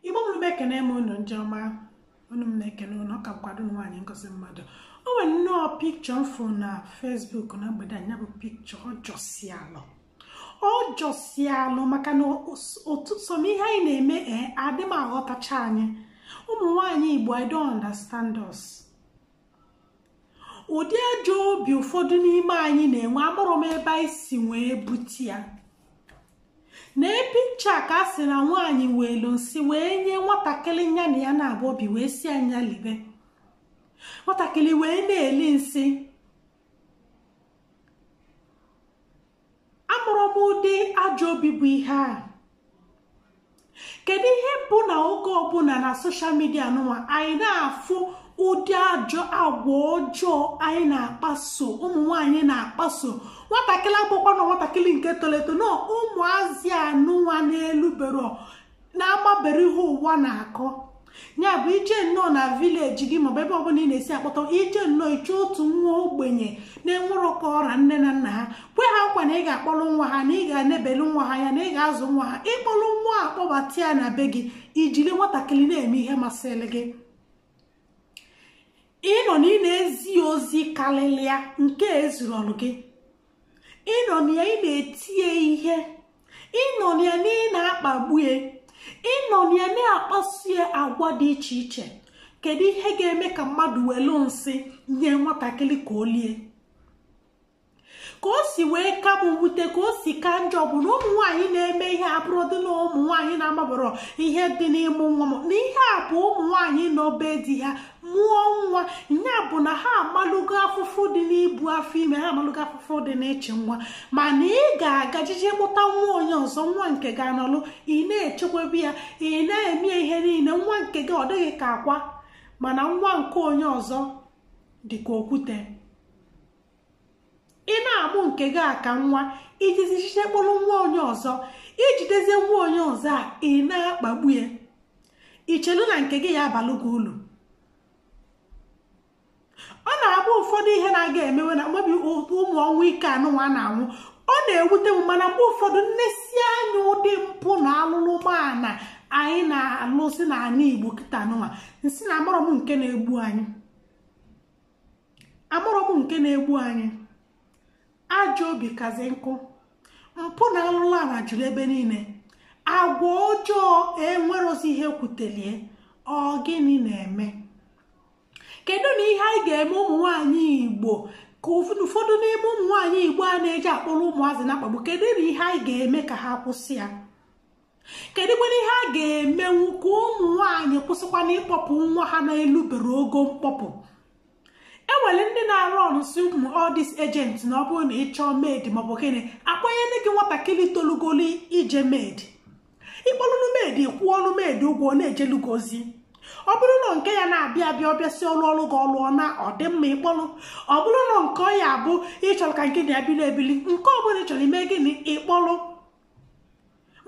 igbo mụrụ m ekene m unu ndị ọma unu m na-ekene unu ọ kakwa ada unu nwaanyị ngozi mmadụ o nwere nnọọ picture m fụ na facebook na mgbede a nya bụ picture ọ jọsi alụ ọ jọsi alụ maka na otu some ihe anyị na-eme ee adị m aghọtacha anyị ụmụ nwaanyị igbo i don't understand us ụdị ajọ obi ụfọdụ n'ime anyị na-enwe amarọ m ebe anyị si wee bute ya na picture ka a sị na nwaanyị weelu nsị wee nye nwatakịrị nya na ya naabọ bi wee sị ya nya libe nwatakịrị wee na-eli nsị amarọ m ụdị ajọ obi bụ ihe a kedu ihe bụ na oge ọbụla na social media anụwa anyị na-afụ ụdị ajọ agwa ọjọọ anyị na-akpaso ụmụ nwanyị na-akpaso nwatakịrị abụkwana nwatakịrị nke tolu eto na ụmụazị anụnwa na-elubero na-amaberọ ihe ụwa na-akọ ya bụ i je nnọọ na village gị maọbụ ebe ọbụla ị na-esi akpọta i je nnọọ iche otu nwa ogbenye na-enwerọ ka ọ ra nne na nna ha kwe ha nkwa na ị ga-akpọrọ nwa ha na ị ga-enebelu nwa ha anya na ị ga-azụ nwa ha ị kpọrọ nwa a kpọbata ya na be gị i jiri nwatakịrị na-eme ihe masịrị gị ị nọ na ị na-ezi ya ozi karịrị ya nke ezuroro gị ị nọ na ya ị na-eti ya ihe ị nọ na ya na ị na-akpagbu ya ị nọ na ya na-akpaso ya agwa dị iche iche kedu ihe ga-eme ka mmadụ welu nsị nye nwatakịrị ka o lie ka o si wee ka m wute ka o si ka njọ bụ na ụmụ nwaanyị na-eme ihe a abụrọdị na ụmụ nwaanyị na-amaberọ ihe dị n'ịmụ nwa na ihe a bụ ụmụ nwaanyị nọ be di ha mụọ nwa ya bụ na ha amalụgo afụfụ dị n'ibu afọ ime ha amalụgo afụfụ dị n'ịchị nwa mana ị ga-aga je je kpọta nwa onye ọzọ nwa nke gị anọlụ ị na-echekwaba ya ị na-eme ihe niile nwa nke gị ọ dị gị ka akwa mana nwa nke onye ọzọ dị ka okwute ị na-amụ nke gị aka nwa i jezi je je kpọrọ nwa onye ọzọ i jidezie nwa onye ọzọ a ị na-akpagbu ya i chelu na nke gị ya-abalụ gị ulu ọ na-abụ ụfọdụ ihe na-aga emewe na mmebi ụmụ ọnwụ ike anụnwa na-anwụ ọ na-ewute m mana mgbe ụfọdụ m nesie anya ụdị mpụ na alụlụmana anyị na-alụsị n'ala igbo kịta nụnwa m sị na amarọ m nke na-egbu anyị amarọ m nke na-egbu anyị ajọ obi kazi nkụ mpụ na alụlụ ana juru ebe niile agwa ọjọọ enwerozi ihe kwutelu ya ọ gịnị na-eme keduni ihe anyị ga-eme ụmụ nwaanyị igbo ka ụfọdụ n'ime ụmụ nwaanyị igbo a na-eje akpọrọ ụmụazị na-akpagbu keduni ihe anyị ga-eme ka ha kwụsị ya kedụkwana ihe a ga-emenwu ka ụmụ nwaanyị kwụsịkwana ịkpọpụ nwa ha na-elubero ogo mkpọpụ enwere ndị na-arụ ọrụ si ụmụ all these agents na ọ bụrụ na ị chọọ maid maọbụ gịnị akpanyere gị nwatakịrị tolugolu ije maid ịkpọlụnụ maid kwụọnụ maid ụgwọ na-ejelu gị ozi ọ bụrụ na nke ya na-abịa abịa ọ bịasịa ọ rụọrụ gị ọrụ ọ naa ọ dị mma ịkpọrọ ọ bụrụ na nke ọ ya abụ ịchọrọ ka nke na-ebili ebili nke ọ bụla ị chọrọ ime gịnị ịkpọrọ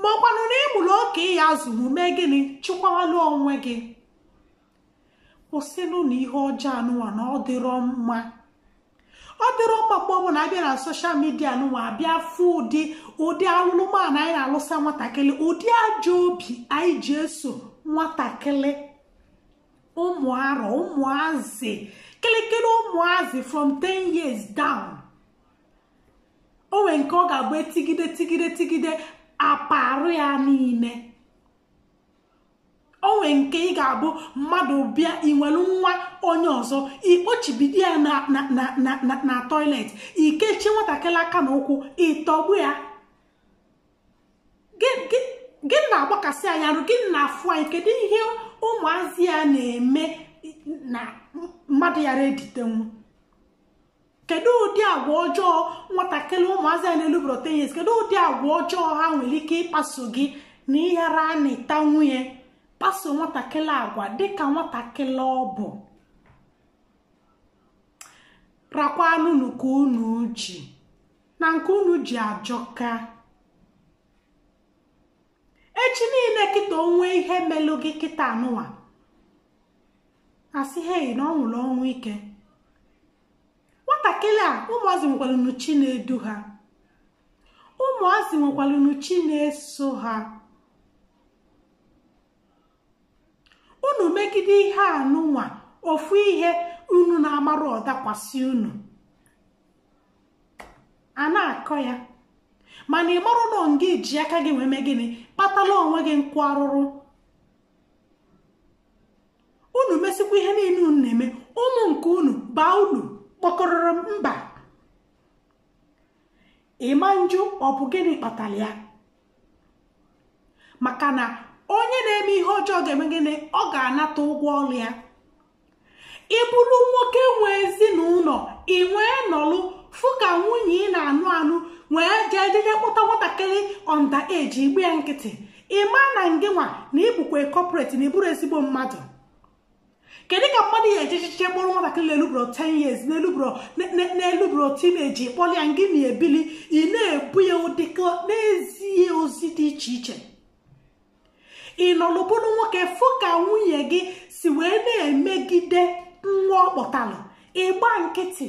ma ọkwanụ na ịmụrụ oke ị ya-azụnwu mee gịnị chịkwawalụ onwe gị kwụsịnụ na ihe ọjọọ anụnwa na ọ dịrọ mma ọ dịrọ mma mgbe ọbụla abịa na soshal midia anụnwa abịa fụ ụdị ụdị alụlụana anyị na-alụsa nwatakịrị ụdị ajọ obi anyị ji eso nwatakịrị ụmụ arọ ụmụazị kịlịkịlị ụmụazị from 10 years down o nwere nke ọ ga-abụ etigide tigide tigide apa arụ ya niile o nwere nke ị ga-abụ mmadụ bịa iwelu nwa onye ọzọ ikpochibido ya na toilet ikechie nwatakịrị aka na ụkwụ ịtọgbu ya gị na-agbakasị nya arụ gị na-afụ anyị kedu ihe ụmụazị a na-eme na mmadụ yara editenwu kedu ụdị agwa ọjọọ nwatakịrị ụmụazị a na-elubero 10 years kedu ụdị agwa ọjọọ ha nwere ike ịkpaso gị na ịghara anatanwu nwee kpaso nwatakịrị agwa dịka nwatakịrị ọ bụ rakwanụ nke unu ji na nke unu ji ajọka echi niile kịta o nwee ihe melụ gị kịta anụnwa asị hei na ọ nwụrụ ọnwụ ike nwatakịrị a ụmụazị nwekwalụnụ chi na-edu ha ụmụazị nwekwalụnụ chi na-eso ha unu megide ihe anụnwa ofu ihe unu na-amarọ ọ dakwasị unu a na-akọ ya mana ị marọ na ọ ngị ji aka gị wee mee gịnị kpatala onwe gị nkwa arụrụ unu mesikwa ihe niile unu na-eme ụmụ nke unu baa ulu kpọkọrọrọ mba ịma njụ ọ bụ gịnị kpatara ya maka na onye na-eme ihe ọjọọ ga-eme gịnị ọ ga-anata ụgwọ ọrụ ya ịbụrụ nwoke nwe ezinụlọ ị nwee nọlụ fụ ka nwunye ị na-anụ anụ wee jee jeje kpọta nwatakịrị underage ịgba ya nkịtị ị ma na ngịnwa na ị bụkwa culprit na ị bụrọ ezigbo mmadụ kedu ka mmadụ ya-eche echiche kpọrọ nwatakịrị na-elubro 10 years na-elubro teenage kpọrọ ya ngị na ya ebili ị na-ebu ya dịka na-ezi ya ozi dị iche iche ị nọlụ bụrụ nwoke fụ ka nwunye gị si wee na-emegide nwa ọ kpọtalụ ị gba nkịtị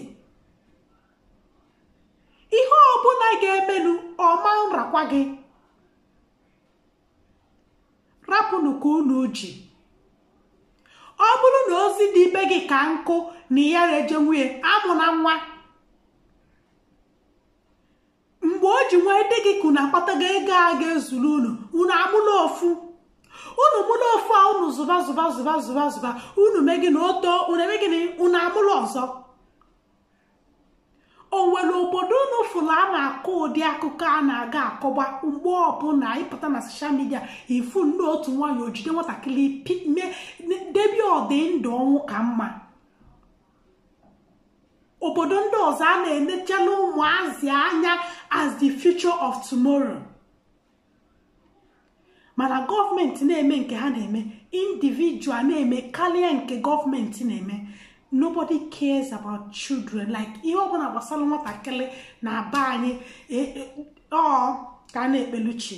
ihe ọbụla ga-emenu ọ ma nrakwa gị rapụnụ ka unu ji ọ bụrụ na ozi dị be gị ka nkụ na ị ya-eje nwunye amụna nwa mgbe o ji wee dị gị ka unu akpatago ego ga-ezuru unu unu amụla ofu unu mụla ofu a unu zụba zụba zụba zụba zụba unu mee gị na oto unu eme gị na unu amụlụ ọzọ o nwere obodo unu fụrụ a na-akọ ụdị akụkọ a na-aga akọba mgbe ọbụla ị pụta na soshal midia ị fụ nnọọ otu nwaanyị o jide nwatakịrị debe ọdị ndụ ọnwụ ka mma obodo ndị ọzọ a na-enechala ụmụazị anya as the future of tomorrow mana gọọmenti na-eme nke ha na-eme individual na-eme karịa nke gọọmenti na-eme nobody cares about children like ihe ọbụla gbasara nwatakịrị na aba anyị e, e, ọ ka a na-ekpelu chi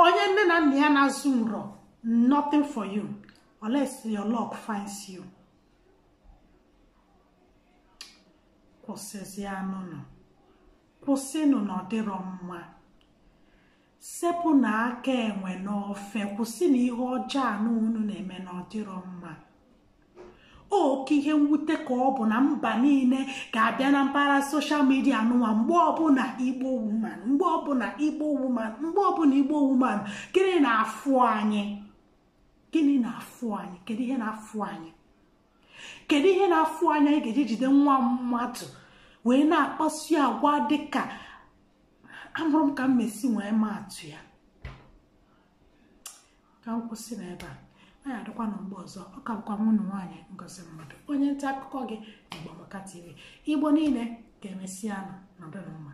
onye nne na nna ya na-azụrọ nothing for you unless your luck finds you kwụsịzinụ kwụsịnụ na ọ dịrọ mma sepụnụ aka enwe n'ofe kwụsịnụ ihe ọjọọ anụ unu na-eme na ọ dịrọ mma oke ihe mwute ka ọ bụ na mba niile ga-abịa na mpaghara soshal midia nụnwa mgbe ọbụla igbo woman mgbe ọbụla igbo woman mgbe ọbụla igbo woman gịnị na-afụ anyị gịnị na-afụ anyị kedu ihe na-afụ anyị kedu ihe na-afụ anyị ị ga-eji jide nwa mmadụ wee na-akpaso ya agwa dịka amarọ m ka m mesi wee maa atụ ya ka m kwụsị na ebe a anyị adịkwanụ mgbe ọzọ ọ ka bụkwa nwanne unu nwaanyị ngozi mmadụ onye nta akụkọ gị Igbo Amaka TV igbo niile ka emesịanụ nọdụnụ mma